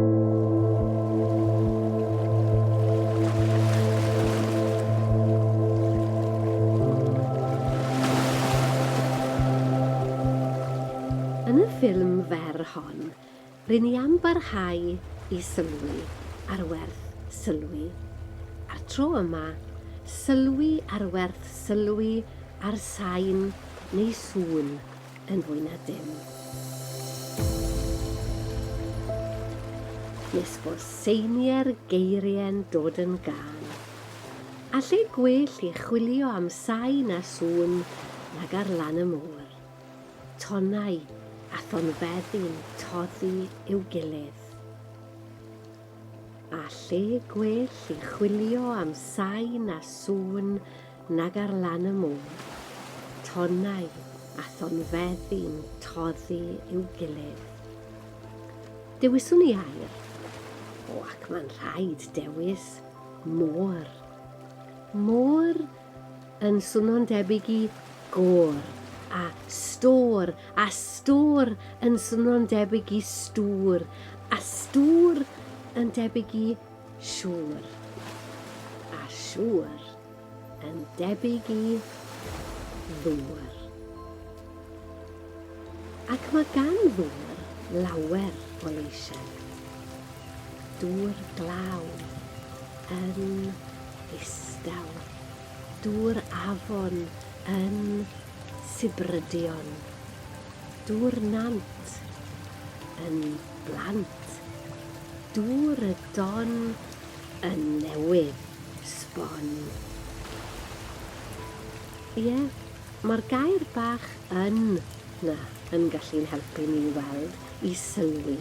Yn y ffilm fer hon, rŷn ni am barhau i sylwi ar werth sylwi. A'r tro yma, sylwi ar werth sylwi ar sain neu sŵn. yn fwy na dim. Nes fo seinier geirie'n dod yn gân. A lle gwell i chwilio am sain a sŵn nag ar lan y môr. Tonnau a thonfeddi'n toddi i'w gilydd. A lle gwell i chwilio am sain a sŵn Nag ar lan y môr. Tonnau a thonfeddi'n toddi i'w gilydd. Dewiswn i air. O, ac mae'n rhaid dewis môr. Môr yn swnio'n debyg i gôr a stôr, a stôr yn swnio'n debyg i stŵr, a stŵr yn debyg i Siŵr. A siŵr yn debyg i ddŵr. Ac mae gan ddŵr lawer o leisiau. Dŵr glaw yn ddistaw. Dŵr afon yn sibrydion. Dŵr nant yn blant. Dŵr y don yn newydd sbon. Ie, mae'r gair bach 'yn' 'na yn gallu'n helpu ni i weld, i sylwi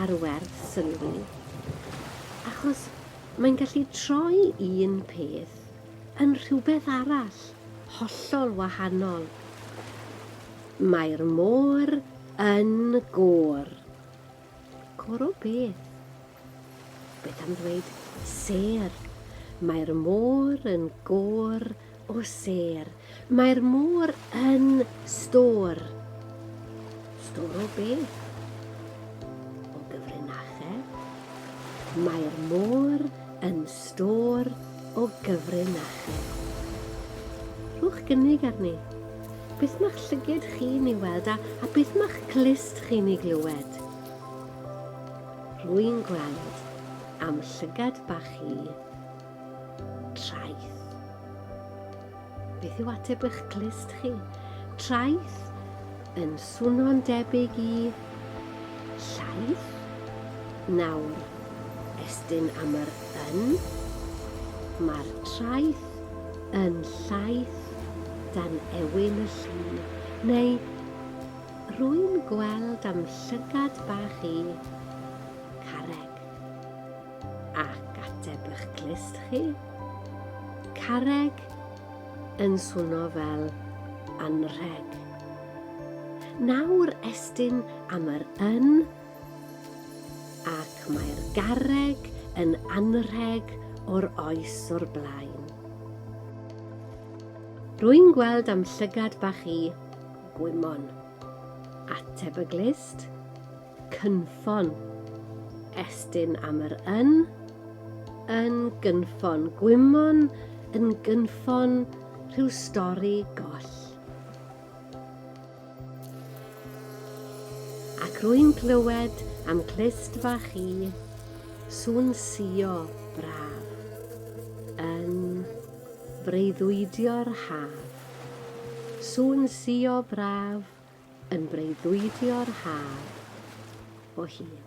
ar werth sylwi. Achos mae'n gallu troi un peth yn rhywbeth arall, hollol wahanol. Mae'r môr Yn gor. Gor o beth? Beth am ddweud sêr? Mae'r môr yn gor o sêr. Mae'r môr yn stor. Stor o beth? O gyfrinachedd. Mae'r môr yn stor o gyfrin â chi. Rhowch gynnig arni. Beth mae'ch llyged chi'n ei weld a, a beth mae'ch glust chi'n ei glywed? Rwy'n gweld am llygad bach i traeth. Beth yw ateb eich clust chi? Traeth yn swno'n debyg i llaeth. Nawr, estyn am yr yn. Mae'r traeth yn llaeth dan ewyn y llu, neu rwy'n gweld am llygad bach i carreg. Ac ateb ych clust chi? Carreg yn swno fel anrheg. Nawr estyn am yr yn ac mae'r garreg yn anrheg o'r oes o'r blaen. Rwy'n gweld am llygad bach i gwymon. Ateb y glust? Cynffon. Estyn am yr yn. Yn gynffon. Gwymon yn gynffon rhyw stori goll. Ac rwy'n clywed am clust fach i sŵn sio braf yn breuddwydio'r haf. Sŵn sio braf Yn breuddwydio'r haf o hyd.